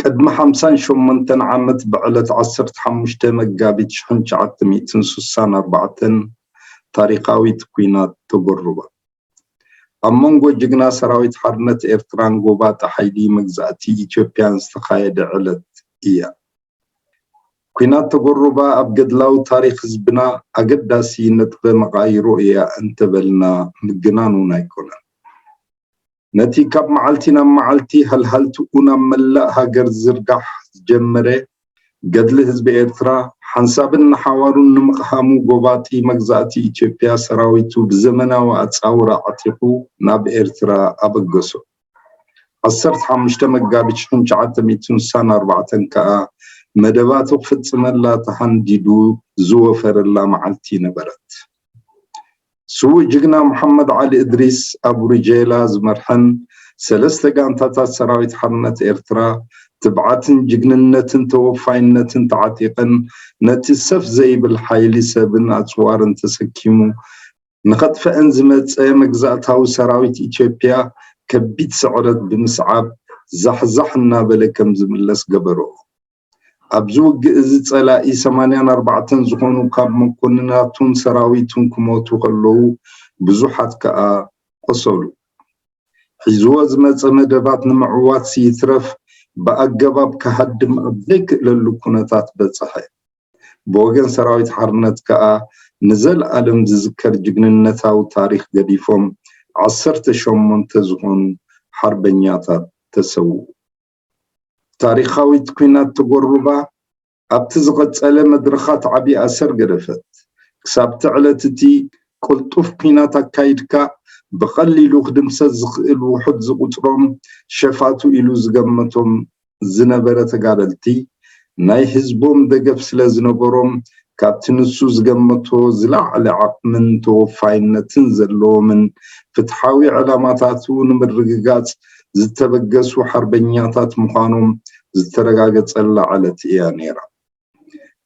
ቅድሚ ሓምሳን ሸሞንተን ዓመት ብዕለት ዓሰርተ ሓሙሽተ መጋቢት ሽሕን ትሽዓተ ሚእትን ስሳን ኣርባዕተን ታሪኻዊት ኩናት ተጎሩባ። ኣብ መንጎ ጅግና ሰራዊት ሓርነት ኤርትራን ጎባጢ ሓይሊ መግዛእቲ ኢትዮጵያን ዝተኻየደ ዕለት እያ። ኩናት ተጎሩባ ኣብ ገድላዊ ታሪኽ ህዝብና ኣገዳሲ ነጥበ መቓይሮ እያ እንተበልና ምግናን እውን ኣይኮነን። ነቲ ካብ መዓልቲ ናብ መዓልቲ ሃልሃልትኡ ናብ መላእ ሃገር ዝዝርጋሕ ዝጀመረ ገድሊ ህዝቢ ኤርትራ ሓንሳብን ንሓዋሩን ንምቕሃሙ ጎባጢ መግዛእቲ ኢትዮጵያ ሰራዊቱ ብዘመናዊ ኣጻውራ ዓጢቑ ናብ ኤርትራ ኣበገሶ። ዓሰርተ ሓሙሽተ መጋቢት ሽሕን ትሽዓተ ሚእትን ስሳን ኣርባዕተን ከኣ መደባቱ ክፍጽመላ ተሃንዲዱ ዝወፈረላ መዓልቲ ነበረት። ስዉእ ጅግና መሓመድ ዓሊ እድሪስ ኣብ ሩጀይላ ዝመርሐን ሰለስተ ጋንታታት ሰራዊት ሓርነት ኤርትራ ትብዓትን ጅግንነትን ተወፋይነትን ተዓጢቐን ነቲ ሰፍ ዘይብል ሓይሊ ሰብን ኣጽዋርን ተሰኪሙ ንኸጥፈኤን ዝመጸ መግዛእታዊ ሰራዊት ኢትዮጵያ ከቢድ ስዕረት ብምስዓብ ዛሕዛሕ እናበለ ከምዝምለስ ገበርኦ። ኣብዚ ውግእ እዚ ጸላኢ ሰማንያን ኣርባዕተን ዝኾኑ ካብ መኮንናቱን ሰራዊቱን ክሞቱ ከለዉ ብዙሓት ከኣ ቆሰሉ። ሒዝዎ ዝመጸ መደባት ንምዕዋትሲ ይትረፍ ብኣገባብ ክሃድም ኣብ ዘይክእለሉ ኩነታት በጸሐ። ብወገን ሰራዊት ሓርነት ከኣ ንዘልኣለም ዝዝከር ጅግንነታዊ ታሪኽ ገዲፎም ዓሰርተ ሸሞንተ ዝኾኑ ሓርበኛታት ተሰውኡ። ታሪኻዊት ኲናት ተጎርባ ኣብቲ ዝቐጸለ መድረኻት ዓቢ ኣሰር ገደፈት። ክሳብ'ቲ ዕለት እቲ ቅልጡፍ ኲናት ኣካይድካ ብቐሊሉ ክድምሰስ ዝኽእል ውሑድ ዝቑጽሮም ሸፋቱ ኢሉ ዝገመቶም ዝነበረ ተጋደልቲ፣ ናይ ህዝቦም ደገፍ ስለ ዝነበሮም ካብቲ ንሱ ዝገመቶ ዝለዓለ ዓቕምን ተወፋይነትን ዘለዎምን ፍትሓዊ ዕላማታቱ ንምርግጋጽ ዝተበገሱ ሓርበኛታት ምዃኖም ዝተረጋገጸላ ዕለት እያ ነይራ።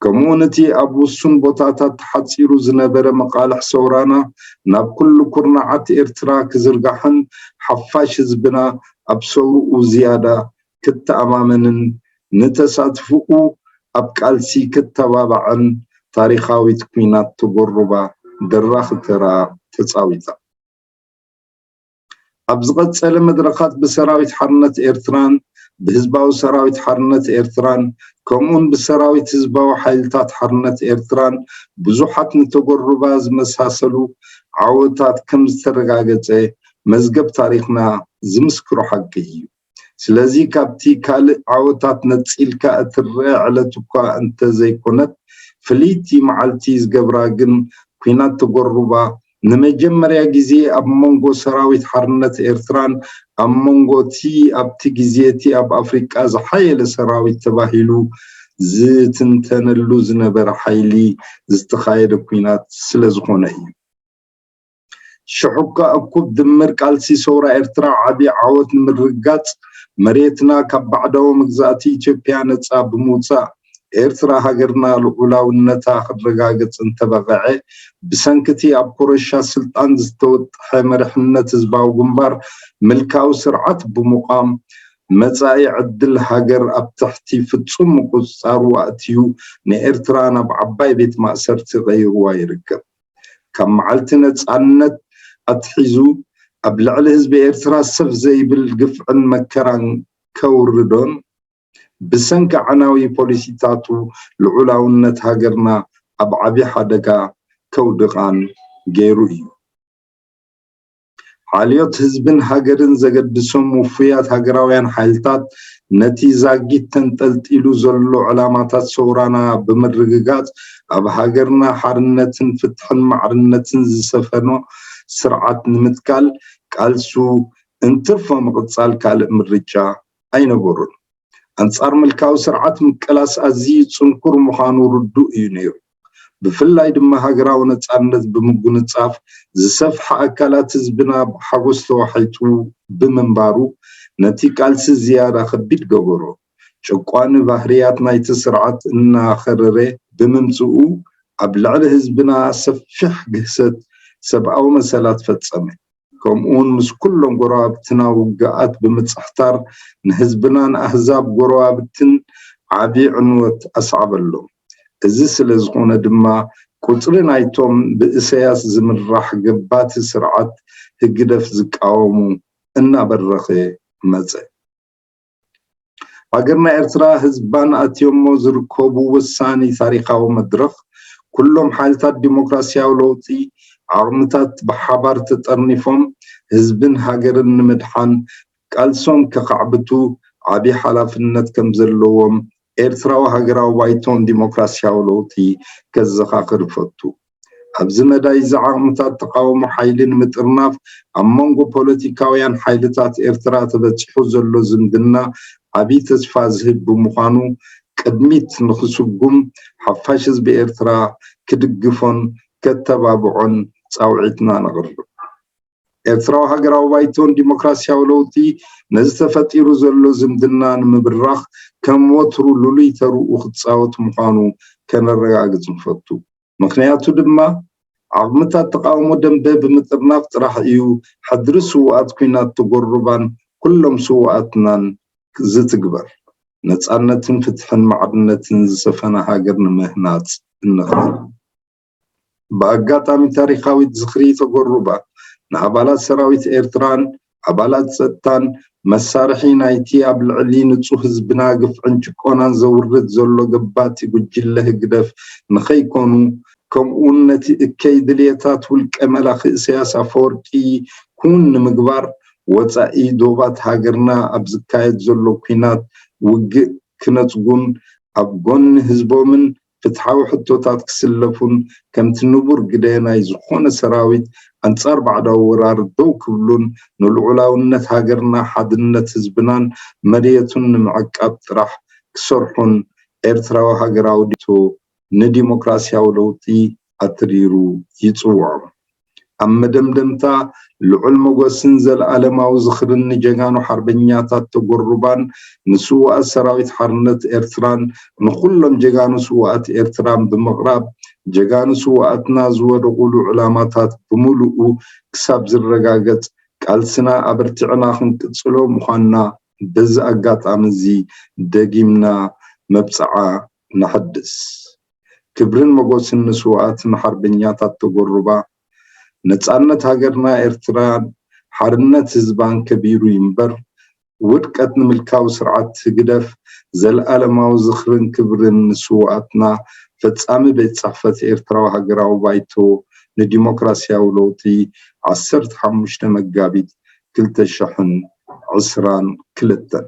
ከምኡውን እቲ ኣብ ውሱን ቦታታት ተሓጺሩ ዝነበረ መቓልሕ ሰውራና ናብ ኩሉ ኩርናዓት ኤርትራ ክዝርጋሕን ሓፋሽ ህዝብና ኣብ ሰውርኡ ዝያዳ ክተኣማመንን ንተሳትፎኡ ኣብ ቃልሲ ክተባባዕን ታሪኻዊት ኲናት ቶጎሩባ ደራኺ ተራ ተጻዊታ። ኣብ ዝቐጸለ መድረኻት ብሰራዊት ሓርነት ኤርትራን ብህዝባዊ ሰራዊት ሓርነት ኤርትራን ከምኡውን ብሰራዊት ህዝባዊ ሓይልታት ሓርነት ኤርትራን ብዙሓት ንቶጎሩባ ዝመሳሰሉ ዓወታት ከም ዝተረጋገጸ መዝገብ ታሪኽና ዝምስክሮ ሓቂ እዩ። ስለዚ ካብቲ ካልእ ዓወታት ነጺልካ እትረኣ ዕለት'ኳ እንተ ዘይኮነት፣ ፍልይቲ መዓልቲ ዝገብራ ግን ኲናት ተጐሩባ ንመጀመርያ ግዜ ኣብ መንጎ ሰራዊት ሓርነት ኤርትራን ኣብ መንጎ'ቲ ኣብቲ ግዜ'ቲ ኣብ ኣፍሪቃ ዝሓየለ ሰራዊት ተባሂሉ ዝትንተነሉ ዝነበረ ሓይሊ ዝተኻየደ ኲናት ስለ ዝኾነ እዩ። ሽሕኳ እኩብ ድምር ቃልሲ ሰውራ ኤርትራ ዓቢ ዓወት ንምርግጋጽ መሬትና ካብ ባዕዳዊ መግዛእቲ ኢትዮጵያ ነጻ ብምውጻእ ኤርትራ ሃገርና ልዑላውነታ ክረጋገጽ እንተበቐዔ ብሰንኪቲ ኣብ ኮረሻ ስልጣን ዝተወጠሐ መሪሕነት ህዝባዊ ግንባር ምልካዊ ስርዓት ብምቛም መጻኢ ዕድል ሃገር ኣብ ትሕቲ ፍጹም ምቁጽጻሩ ኣእትዩ ንኤርትራ ናብ ዓባይ ቤት ማእሰርቲ ቀይርዋ ይርከብ። ካብ መዓልቲ ነጻነት ኣትሒዙ ኣብ ልዕሊ ህዝቢ ኤርትራ ሰፍ ዘይብል ግፍዕን መከራን ከውርዶን ብሰንኪ ኣዕናዊ ፖሊሲታቱ ልዑላውነት ሃገርና ኣብ ዓቢ ሓደጋ ከውድቓን ገይሩ እዩ። ሓልዮት ህዝብን ሃገርን ዘገድሶም ውፉያት ሃገራውያን ሓይልታት ነቲ ዛጊት ተንጠልጢሉ ዘሎ ዕላማታት ሰውራና ብምርግጋጽ ኣብ ሃገርና ሓርነትን ፍትሕን ማዕርነትን ዝሰፈኖ ስርዓት ንምትካል ቃልሱ እንትርፎ ምቕጻል ካልእ ምርጫ ኣይነበሮን። ኣንጻር ምልካዊ ስርዓት ምቅላስ ኣዝዩ ጽንኩር ምዃኑ ርዱእ እዩ ነይሩ። ብፍላይ ድማ ሃገራዊ ነጻነት ብምጉንጻፍ ዝሰፍሐ ኣካላት ህዝብና ብሓጎስ ተዋሒጡ ብምንባሩ ነቲ ቃልሲ ዝያዳ ከቢድ ገበሮ። ጨቋኒ ባህርያት ናይቲ ስርዓት እናኸረረ ብምምጽኡ ኣብ ልዕሊ ህዝብና ሰፊሕ ግህሰት ሰብኣዊ መሰላት ፈጸመ። ከምኡውን ምስ ኩሎም ጎረባብትና ውግኣት ብምጽሕታር ንህዝብናን ኣህዛብ ጎረባብትን ዓቢ ዕንወት ኣስዓበሎም። እዚ ስለ ዝኾነ ድማ ቁጽሪ ናይቶም ብእሰያስ ዝምራሕ ገባቲ ስርዓት ህግደፍ ዝቃወሙ እናበረኸ መጸ። ሃገርና ኤርትራ ህዝባን ኣትዮሞ ዝርከቡ ወሳኒ ታሪኻዊ መድረኽ ኩሎም ሓይልታት ዲሞክራሲያዊ ለውጢ ዓቕምታት ብሓባር ተጠርኒፎም ህዝብን ሃገርን ንምድሓን ቃልሶም ከኻዕብቱ ዓብይ ሓላፍነት ከም ዘለዎም ኤርትራዊ ሃገራዊ ባይቶን ዲሞክራሲያዊ ለውጢ ከዘኻኽር እፈቱ። ኣብዚ መዳይ እዚ ዓቕምታት ተቓውሞ ሓይሊ ንምጥርናፍ ኣብ መንጎ ፖለቲካውያን ሓይልታት ኤርትራ ተበጺሑ ዘሎ ዝምድና ዓቢ ተስፋ ዝህብ ብምዃኑ ቅድሚት ንኽስጉም ሓፋሽ ህዝቢ ኤርትራ ክድግፎን ከተባብዖን ጻውዒትና ነቕርብ። ኤርትራዊ ሃገራዊ ባይቶን ዲሞክራስያዊ ለውጢ ነዚ ተፈጢሩ ዘሎ ዝምድና ንምብራኽ ከም ወትሩ ልሉይ ተርኡ ክጻወት ምዃኑ ከነረጋግጽ ንፈቱ። ምኽንያቱ ድማ ዓቕምታት ተቓውሞ ደምበ ብምጥርናፍ ጥራሕ እዩ ሕድሪ ስውኣት ኲናት ተጎሩባን ኩሎም ስውኣትናን ዝትግበር። ነጻነትን ፍትሕን ማዕርነትን ዝሰፈና ሃገር ንምህናጽ እንኽእል። ብኣጋጣሚ ታሪኻዊት ዝኽሪ ተጎሩባ ንኣባላት ሰራዊት ኤርትራን ኣባላት ጸጥታን መሳርሒ ናይቲ ኣብ ልዕሊ ንጹህ ህዝብና ግፍዕን ጭቆናን ዘውርድ ዘሎ ገባቲ ጉጅለ ህግደፍ ንኸይኮኑ ከምኡውን ነቲ እከይ ድልየታት ውልቀ መላኺ ኢሳያስ ኣፈወርቂ ክውን ንምግባር ወጻኢ ዶባት ሃገርና ኣብ ዝካየድ ዘሎ ኩናት ውግእ ክነጽጉን ኣብ ጎኒ ህዝቦምን ፍትሓዊ ሕቶታት ክስለፉን ከምቲ ንቡር ግደ ናይ ዝኾነ ሰራዊት ኣንጻር ባዕዳዊ ወራር ደው ክብሉን ንልዑላውነት ሃገርና ሓድነት ህዝብናን መርየቱን ንምዕቃብ ጥራሕ ክሰርሑን ኤርትራዊ ሃገራዊ ድርጅት ንዲሞክራስያዊ ለውጢ ኣትሪሩ ይጽውዖም። ኣብ መደምደምታ ልዑል ሞጎስን ዘልኣለማዊ ዝኽርን ንጀጋኑ ሓርበኛታት ተጎሩባን ንስውኣት ሰራዊት ሓርነት ኤርትራን ንኹሎም ጀጋኑ ስውኣት ኤርትራን ብምቕራብ ጀጋኑ ስውኣትና ዝወደቑሉ ዕላማታት ብምሉኡ ክሳብ ዝረጋገጽ ቃልስና ኣበርቲዕና ክንቅጽሎ ምዃንና በዚ ኣጋጣሚ እዚ ደጊምና መብጽዓ ነሐድስ። ክብርን መጎስን ንስውኣትና ሓርበኛታት ተጎሩባ። ነጻነት ሃገርና ኤርትራን ሓርነት ህዝባን ከቢሩ ይንበር። ውድቀት ንምልካዊ ስርዓት ህግደፍ። ዘልኣለማዊ ዝኽርን ክብርን ንስውኣትና። ፈጻሚ ቤት ጽሕፈት ኤርትራዊ ሃገራዊ ባይቶ ንዲሞክራስያዊ ለውጢ ዓሰርተ ሓሙሽተ መጋቢት ክልተ ሽሕን ዕስራን ክልተን።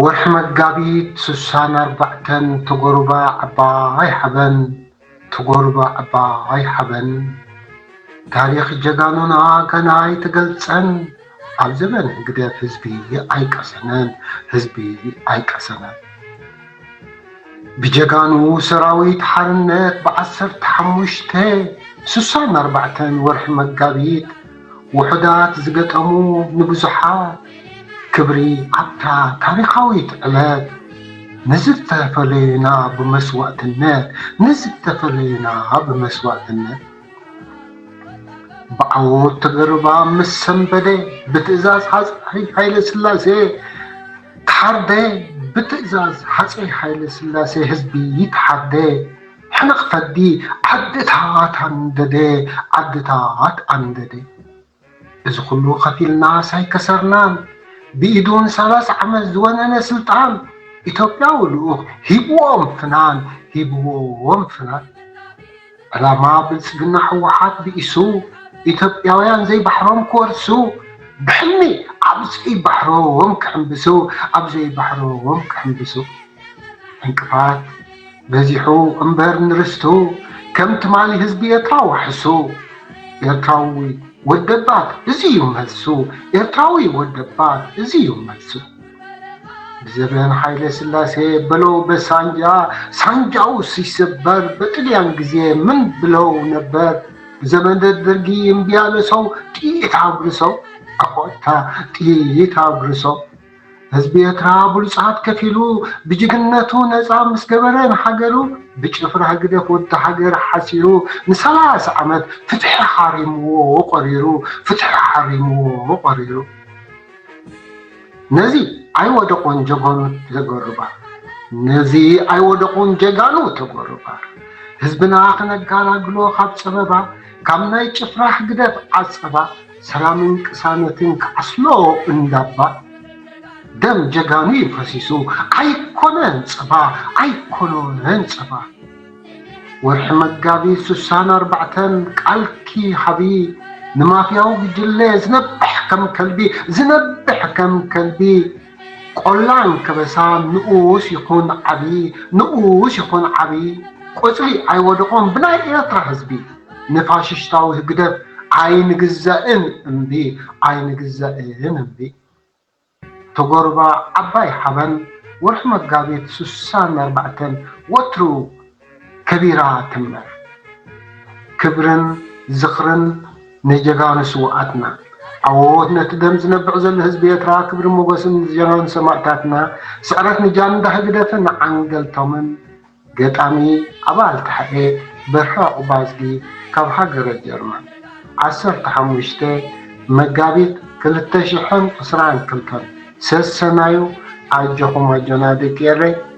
ወርሒ መጋቢት ስሳን ኣርባዕተን ተጎሩባ ዓባይ ሓበን ተጎሩባ ዓባይ ሓበን ታሪኽ ጀጋኑና ገና ኣይተገልጸን ኣብ ዘበን ህግደፍ ህዝቢ ኣይቀሰነን ህዝቢ ኣይቀሰነን ብጀጋኑ ሰራዊት ሓርነት ብዓሰርተ ሓሙሽተ ስሳን ኣርባዕተን ወርሒ መጋቢት ውሑዳት ዝገጠሙ ንብዙሓት ክብሪ ኣብታ ታሪኻዊት ዕለት ንዝተፈለዩና ብመስዋእትነት ንዝተፈለዩና ብመስዋእትነት ብዓወት ተገርባ ምስ ሰንበደ ብትእዛዝ ሃፀይ ሃይለስላሴ ተሓርደ ብትእዛዝ ሃፀይ ሃይለስላሴ ህዝቢ ይተሓርደ ሕንቕ ፈዲ ዓድታት ኣንደደ ዓድታት ኣንደደ እዚ ኩሉ ከፊልናስ ኣይከሰርናን ብኢዱን ሰላሳ ዓመት ዝወነነ ስልጣን ኢትዮጵያዊ ልኡኽ ሂብዎም ፍናን ሂብዎም ፍናን ዕላማ ብልፅግና ሕወሓት ብኢሱ ኢትዮጵያውያን ዘይባሕሮም ክወርሱ ብሕልሚ ኣብ ዘይባሕሮም ክሕምብሱ ኣብ ዘይባሕሮም ክሕምብሱ ዕንቅፋት በዚሑ እምበር ንርስቱ ከም ትማሊ ህዝቢ ኤርትራ ዋሕሱ ኤርትራዊ ወደባት እዚ እዩ መልሱ ኤርትራዊ ወደባት እዚ እዩ መልሱ ብዘበን ሓይለ ስላሴ በለው በሳንጃ ሳንጃው ሲሰበር በጥልያን ግዜ ምን ብለው ነበር ብዘመን ደርጊ እምቢያለ ሰው ጥይት አጉርሰው አቆታ ጥይት አጉርሰው ህዝቢ ኤርትራ ብሉጻት ከፊሉ ብጅግንነቱ ነጻ ምስ ገበረ ንሃገሩ ብጭፍራ ህግደፍ ወዲ ሃገር ሓሲሩ ንሰላሳ ዓመት ፍትሒ ሓሪምዎ ቆሪሩ ፍትሒ ሓሪምዎ ቆሪሩ ነዚ ኣይወደቑን ጀጋኑ ተጎርባ ነዚ ኣይወደቑን ጀጋኑ ተጎርባ ህዝብና ክነጋላግሎ ካብ ጸበባ ካብ ናይ ጭፍራ ህግደፍ ዓጸባ ሰላምን ቅሳነትን ክዓስሎ እንዳባ ደም ጀጋኑ እዩ ፈሲሱ ኣይኮነን ጸባ ኣይኮነን ጸባ ወርሒ መጋቢት ስሳን ኣርባዕተን ቃልኪ ሃቢ ንማፍያዊ ጉጅለ ዝነብሕ ከም ከልቢ ዝነብሕ ከም ከልቢ ቆላን ከበሳን ንኡስ ይኹን ዓቢ ንኡስ ይኹን ዓቢ ቆጽሊ ኣይወደቖን ብናይ ኤርትራ ህዝቢ ንፋሽሽታዊ ህግደፍ ኣይንግዛእን እምቢ ኣይንግዛእን እምቢ ተጎርባ ዓባይ ሓበን ወርሒ መጋቢት ስሳን ኣርባዕተን ወትሩ ከቢራ ትንበር። ክብርን ዝኽርን ንጀጋኑ ስውኣትና። ዓዎዎት ነቲ ደም ዝነብዕ ዘሎ ህዝቢ ኤርትራ ክብርን ሞጎስን ንጀጋኑ ሰማእታትና ስዕረት ንጃንዳ ህግደፍን ዓንገልቶምን ገጣሚ ኣባል ተሓኤ በርሀ ዑቅባዝጊ ካብ ሃገረ ጀርመን ዓሰርተ ሓሙሽተ መጋቢት ክልተ ሽሕን ዕስራን ክልተን ሰሰናዩ ኣጆኹም ኣጆና ደቂ ኤረይ